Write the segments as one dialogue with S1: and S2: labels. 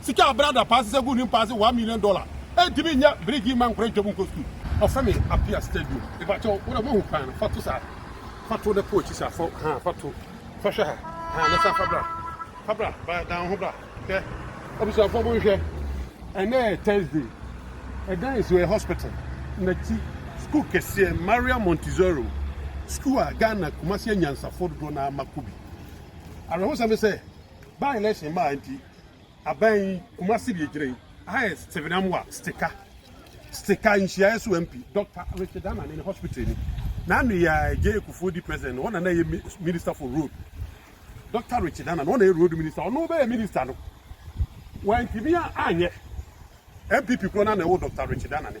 S1: Sika a bere ada paa sesa gu ne mpa ase one million dollar ɛntumi nyɛ birigi mma nkora ntwa mu nkɔ sukuu. Ɔsane Appiah Stadium mepakyɛw wo dɛ moahu kwan no fa to saa fa to na kɔ akyi saa fa haa fa to fa hwɛ ha haa na san fa bra fa bra ba dan wo ho bra hwɛ abusuafoɔ mo nhwɛ ɛnɛ yɛ Thursday ɛdan yɛ so yɛ hospital na ti sukuu kɛseɛ Maria Montessori sukuu a Ghana Kumasi anyansafoɔ dodoɔ na ama kɔ bi awerɛhosɛm ne sɛ by election maa nti Aban yi, Kumasi deɛ gyina yi. Aha yɛ Stephen Amoah Stika Stika nhyiaeɛ so MP, Dɔkta Richard Anane ne hospital ni. N'ano yi ara Jay Kufuor di president no, hɔ na na ɛyɛ minister for road. Dɔkta Richard Anane, hɔ na ɛyɛ road minister, ɔno bɛyɛ minister no, wantumi anyɛ. NPP korɔ no ara na ɛwɔ Dɔkta Richard Anane.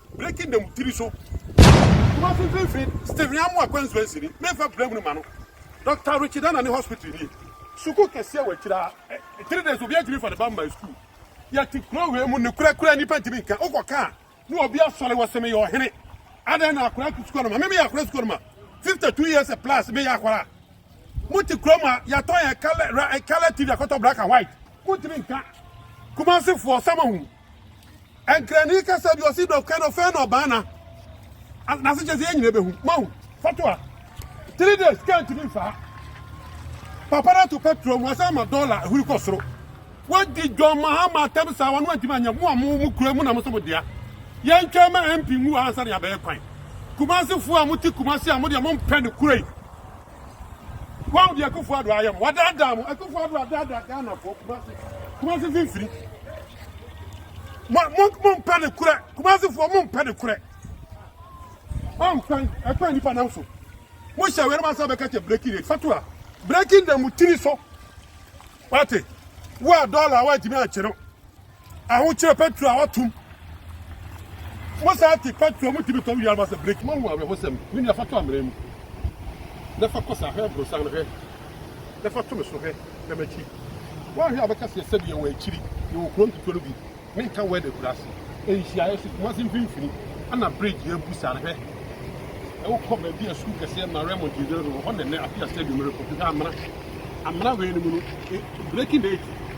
S1: Breaking the tiri so. Kumasi mfimfini Stephen Amoah Kwanzua Nsiri memfa bra hunu ma no Doctor Richard Anane Hospital nie. Sukuu kɛseɛ wɔ akyire ha three days obi antumi fa ne ba mma sukuu yɛte kuro wei mu nokura kura nipa ntumi nka wokɔ kaa ne obi asɔre wɔ se meyɛ ɔhene adɛn na akora sukuu no ma me meyɛ akora sukuu no ma 52 years plus meyɛ akora mote kuro mu a yɛatɔn yɛ kala tv akɔtɔ black and white montumi nka kumasefoɔ samahu Nkrani kasa bi ɔsi dɔkɛ no fɛn no ɔbaa na n'ase kyɛ sɛ yɛn nyinaa bɛhu mahu fɔto a three days kaa ntumi nfaa papa no ato pɛtrol mu ɔsan ma dɔla ahuri kɔ soro wadi John Mahama atɛm saa wɔn antumi anyɛ mo a mo mo kura mu na mo so mo dea yɛn twɛn ma MP nwu ansa ne abɛyɛ kwan kumase fo a mo te kumase a mo deɛ mo mpɛ ne kura yi Wɔn deɛ Akufo Addo ayɛ mo, wadaadaa mo. Akufo Addo adaadaa Ghana foɔ, Kumasi, Kumasi mfimfini. Mo mo mo mpɛ ne korɛ, Kumasi foɔ mo mpɛ ne korɛ. Ɔmpɛn, ɛpɛn nipa nam so. Mo hyɛ wɛrɛ ma sɛ bɛka kyɛ breaking rate, fatua, breaking da mo tiri so. Wate, wo a dɔla a wɔatumi akyerɛ Ahokyerɛ petrol a wɔatom. Mosan te petrol mu tumi tɔ wo yarba sɛ breki. Moahu awerɛhosɛm? Me nua, fa to amena mu na fa kɔ saa. Hwɛ aborosan no hwɛ na fa to me so hwɛ na m'akyi. Woanhwɛ a wobɛka sɛ sɛdeɛ wɔ akyiri, yɛwɔ kuro nketewa no bi, menka word akuraase, nhyiaeɛ so Kumase mfimfini ɛna bridge yɛ abu saa no hwɛ. Wokɔ baabi a sukuu kɛseɛ ma Raymond gyinagyina so wɔ hɔ nɛnɛ afei a stadium rekɔ. Hwɛ amena. Amena wei no mu no, breaking the 80.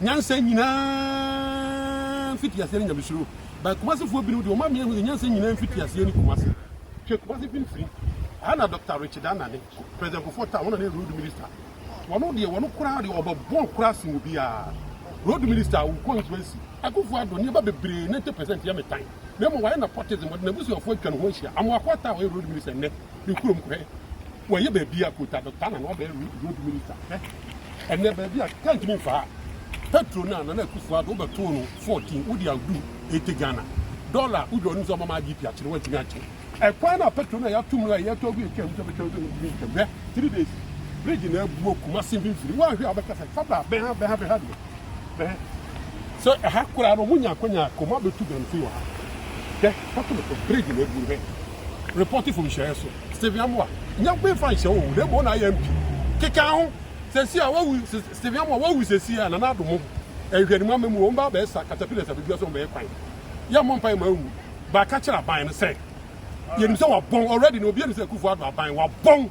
S1: Nyansa nyinaa mfitiaseɛ ne Nyamesuro but Kumasefoɔ binom deɛ wɔn amee ahu sɛ nyansa nyinaa mfitiaseɛ ne Kumase. Hwɛ Kumase mfimfini ha na Doctor Richard Anane, President Kufuor Taa wɔn na ne Road Minister. Wɔn deɛ wɔn koraa deɛ wɔbɛbɔn koraa sen obiara. Road Minister wo constituency. Akuffo Addo nneɛma bebree 90% yɛ me tan. Na mmom wayɛ nepotism, ɔde n'abusuafoɔ atwa ne ho ahyia. Amoako Ataa a ɔyɛ Road Minister nnɛ ne kurom kɔɛ wɔyɛ baabi a kota bɛtaa na na ɔbɛyɛ road minister hwɛ ɛnɛ baabi a kaa ntumi mfaa petro no a nana akufo ado wobɛtoo no 14 wode awdu 80 ghana dɔla wodwa ɔnim sɛ ɔmama agp akyere woantumi akyere ɛkwan no a petro no a yɛato mu no a yɛtɔ agu yɛtwa mu sɛ bɛtwa mu sɛ ntumi ntwa hwɛ 3 days bridge na abuo kuma se mfimfini woanhwɛ a wobɛka sɛ fabra bɛha bɛha bɛha deɛ Hwɛ, sɛ ɛha koraa no, monya akwanya kɔ mu abɛtu bɛn firi wɔ ha. Hwɛ, kɔto me so, bridge no abu no. Hwɛ, report fam nhyɛeɛ so. Stephen Amoah, nya me mfa nhyɛ wo, na mmom na ayɛ mpi. Keka ho, seesei a wawu, Stephen Amoah, wawu seesei a, Nana Addo mo ho. Nhwɛanimu ama mu, wɔn ba abɛyɛ sa, caterpillars abɛdua so, wɔbɛyɛ kwan. Yɛ mmɔ mpaeɛ ma anwu. Ba ka kyerɛ aban no sɛ, yɛnim sɛ wɔabɔn, already no, obiara nim sɛ Akufo-Addo aban, wɔabɔn.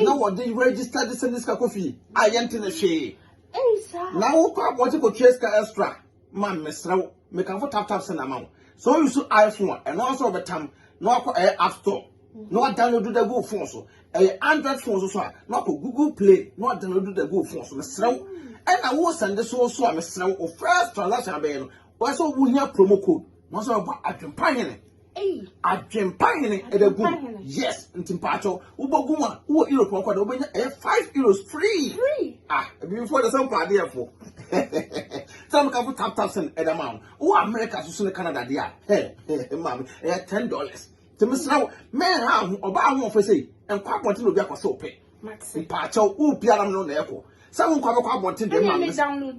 S2: na wɔde register de sɛnde sika kɔ fie a yɛnte ne hwee na
S3: wokɔ abɔgye
S2: kɔtua sika extra ma mesrɛ wo mekamfo tap tap sɛ na ama wo sɛ ɔyi so iphone a ɛno nso wɔbɛtam na wakɔ ɛyɛ app store na wadownload da gu phone so ɛyɛ android phone so so a na wakɔ google play na wadownload da gu phone so mesrɛ wo ɛna wo sɛnde so so a mesrɛ wo first transaction abɛyɛ no wɔsɛ wohia promo code na wɔsɛ wɔbɔ adwempa hene
S3: Adwempa hene
S2: ɛbɛ gu yes nti mpaatɔ wobɔ gu a wowɔ europe ɔkɔ de wobɛnya ɛyɛ five euros free ah
S3: ebibifo de sɛ
S2: mpa adeɛ fo sɛ mo kafo tap tap sɛn ɛda ma wo wowɔ america soso ne canada deɛ a hɛ hɛ maame ɛyɛ ten dollars nti mesra wo mɛn ha ho ɔbaa ho ɔfɛ sɛ nkɔ abɔnten na obi akɔ sɛ ɔpɛ mpaatɔ wo pia nam no na ɛkɔ sɛ wo nkɔ abɛkɔ abɔnten deɛ maame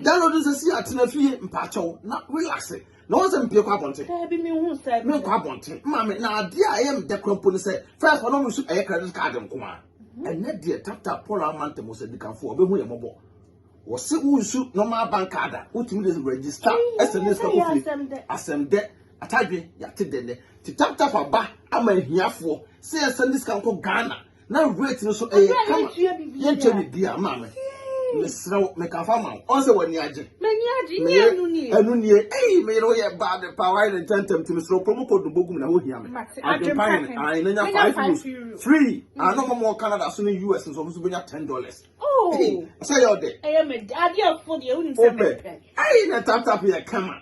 S2: download nsɛ si atena fie mpaatɔ na relax na wɔn sɛ mpie kɔ abɔnten daabi mi hu sɛ
S3: mi nkɔ abɔnten maame
S2: na adeɛ a ɛyɛ mi dɛ kura mpo ne sɛ fɛs hɔ na wɔn su ɛyɛ credit card nko a mhm. ɛnɛ deɛ tata paul amanta mu sɛ dikanfo ɔbɛhu yɛ mɔbɔ wɔsi wusu normal bank card a wotumi de register ɛsɛ ne sika kofie asɛm dɛ atadwe yate dɛ nɛ ti tap tap aba ama ahiafoɔ sɛ ɛsɛ ne sika nkɔ ghana na rate no so ɛyɛ kama yɛntua biribiara maa me mesrɛ wo meka fa ma wo ɔn sɛ w'ani agye ɛno nie ei meyere woyɛ bad pa wayɛ ne ntɛntɛm nti mesrɛ promo code no bɔgum na wohia me adwempa hene ae na nya 5 euros free ano ma mɔ canada so ne us nsɔfo so bɛnya 10 dollars sɛ yɛ ɔdɛ
S3: wopɛ ei
S2: na taptap yɛ kama